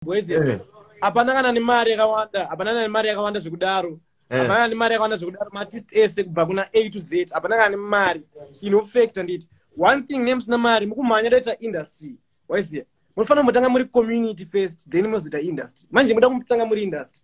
boys Eh. hapana kana nemari yakawanda hapana kana nemari yakawanda zvekudaro Eh. hapana kana nemari yakawanda zvekudaro maartist ese kubva kuna a to z hapana kana nemari inofekta nditi one thing nemusina mari mukumhanya toita industry waiziva munofanira kumbotanga muri community first then mozoita industry manje muda kutanga muri industry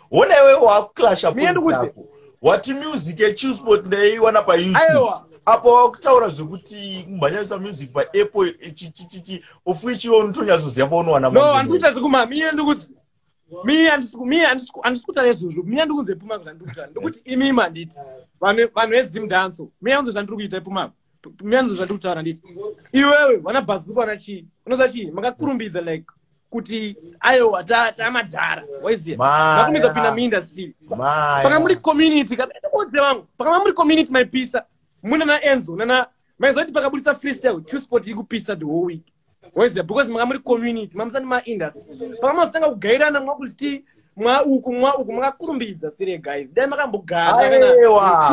hona iwe wakuclasha pointako wati music yechilsport ndaiiwana payoutube apo wakutaura zvekuti kumhanyarisa music paapple chichichichi of which iwe unotonyatsoziva paunowana no handisi kuita zvekuma mie ndikuti mie handisi kutaura izvozvo mie ndikunze pumako zvandiri kutaura ndokuti imi manditi vanhu vezim danso mie anzo zvandiri kuita ipumako miyanzo zvandiri kutaura nditi iwewe vana bhazuko vana chii unoziva chii makakurumbidza like kuti ayowa tamadhara waizivakumiza kupinda muindastry paka muri community kaoze vangu pakama muri community maipisa muna naenzo nana maiziva kuti pakaburitsa freestyle q sport ikupisa the whole week weze because manga muri community mamusani maindustry pakamazotanga kugairana mwakuti mwa uku mwa uku makakurumbidza sire guys dai makambogaaiwa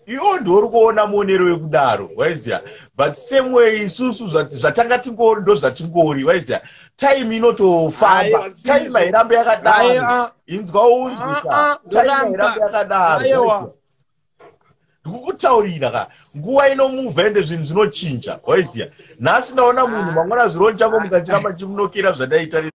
iwo ndiori kuona muonero wekudaro waiziva but same way isusu zvatanga tingori ndo zvatingori waiziva time inotofamba time hairambe yakadaro inzwa unzwisa time hairambe yakadaro ndikukutaurira ka nguva inomuvha ende zvinhu zvinochinja waiziva nhasi ndaona munhu mangwana zvironjango mukachiramba chimunokera zvandaitarira